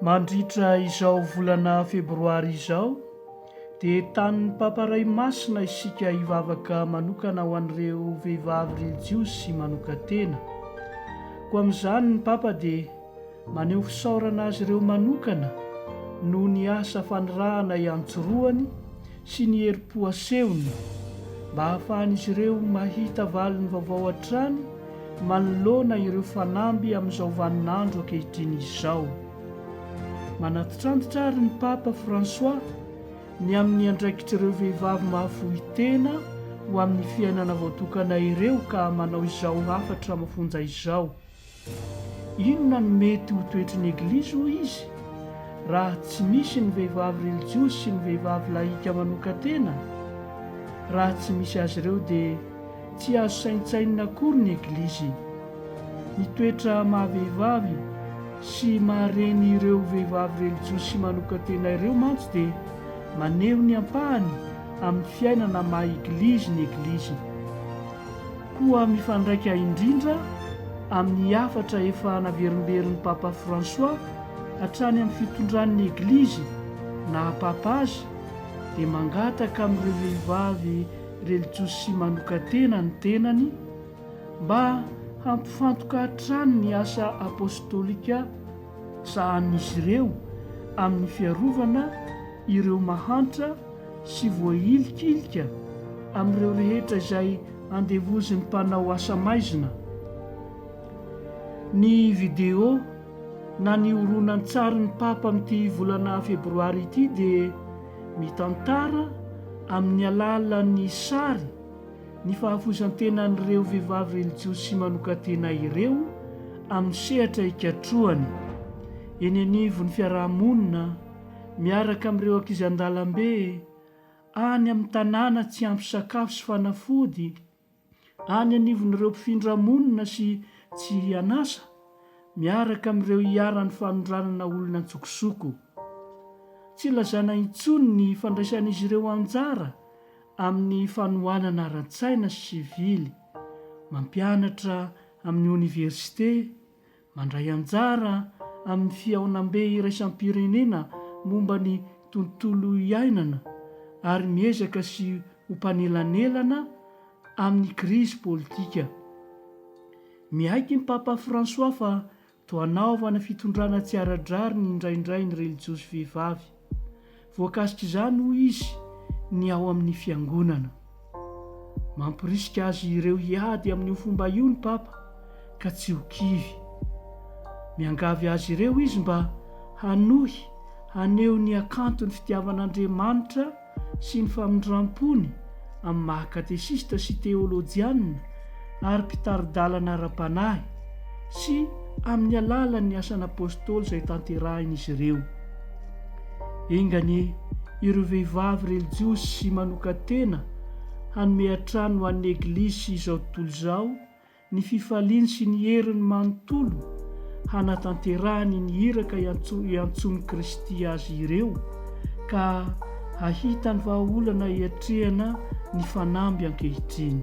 Mandritra izao volana febroary izao dia tanin'ny Papa Ray Masina isika hivavaka manokana ho an'ireo vehivavy relijiozy sy manokan-tena. Koa amin'izany ny Papa dia Maneho fisaorana azy ireo manokana noho ny asa fanirahana iantsorohany sy ny herim-po asehony mba hahafahan'izy ireo mahita valiny vaovao hatrany manoloana ireo fanamby amin'izao vaninandro ankehitriny izao. Manantitrantitra àry ny Papa François ny amin'ny andraikitr'ireo vehivavy mahafoy tena ho amin'ny fiainana voatokana ireo ka manao izao hafatra mafonja izao, Inona no mety ho toetry ny Eglizy, hoy izy, raha tsy misy ny vehivavy relijiozy sy ny vehivavy lahika manokan-tena? Raha tsy misy azy ireo dia tsy azo saintsainina akory ny Eglizy. Ny toetra maha-vehivavy sy maha-reny ireo vehivavy relijiozy sy manokan-tena ireo mantsy dia maneho ny ampahany amin'ny fiainana maha-Eglizy ny Eglizy. Koa mifandraika indrindra amin'ny hafatra efa naverimberin'i Papa François hatrany amin'ny fitondran'ny Eglizy naha Papa azy dia mangataka amin'ireo vehivavy relijiosi manokan-tena ny tenany mba hampifantoka hatrany ny asa apostolika sahanin'izy ireo amin'ny fiarovana ireo mahantra sy voahilikilika amin'ireo rehetra izay Andevozin'ny mpanao asa maizina ny video na ny horonantsarin'ny Papa amin'ity volana febroary ity dia mitantara amin'ny alalan'ny sary ny fahafoizan-tenan'ireo vehivavy relijiozy manokan-tena ireo amin'ny sehatra ikatrohany eny anivon'ny fiaraha-monina miaraka amin'ireo ankizy an-dalambe any amin'ny tanàna tsy ampy sakafo sy fanafody, any anivon'ireo mpifindramonina sy tsy an'asa, miaraka amin'ireo iharan'ny fanondranana olona an-tsokosoko. Tsy lazana intsony ny fandraisan'izy ireo anjara amin'ny fanohanana ara-tsaina sy sivily, mampianatra amin'ny oniversite, Mandray anjara amin'ny fihaonambe iraisam-pirenena momba ny tontolo iainana ary miezaka sy ho mpanelanelana amin'ny krizy politika. Miaiky ny Papa François fa toa hanaovana fitondrana tsy ara-drariny indraindray ny relijiozy vehivavy. Voakasik'izany, hoy izy, ny ao amin'ny Fiangonana. Mamporisika azy ireo hiady amin'io fomba io ny Papa, ka tsy ho kivy. Miangavy azy ireo izy mba hanohy haneho ny hakanton'ny fitiavan'Andriamanitra sy ny famindram-pony, amin'ny maha katesista sy teolojianina ary mpitari-dalana ara-panahy sy amin'ny alalan'ny asan'Apôstôly izay tanterahin'izy ireo. Enga anie ireo vehivavy relijosy manokan-tena hanome hatrany ho an'ny Eglizy izao tontolo izao ny fifaliany sy ny heriny manontolo hanatanterahany ny iraka iantsoan'i Kristy azy ireo ka hahita ny vahaolana iatrehana ny fanamby ankehitriny.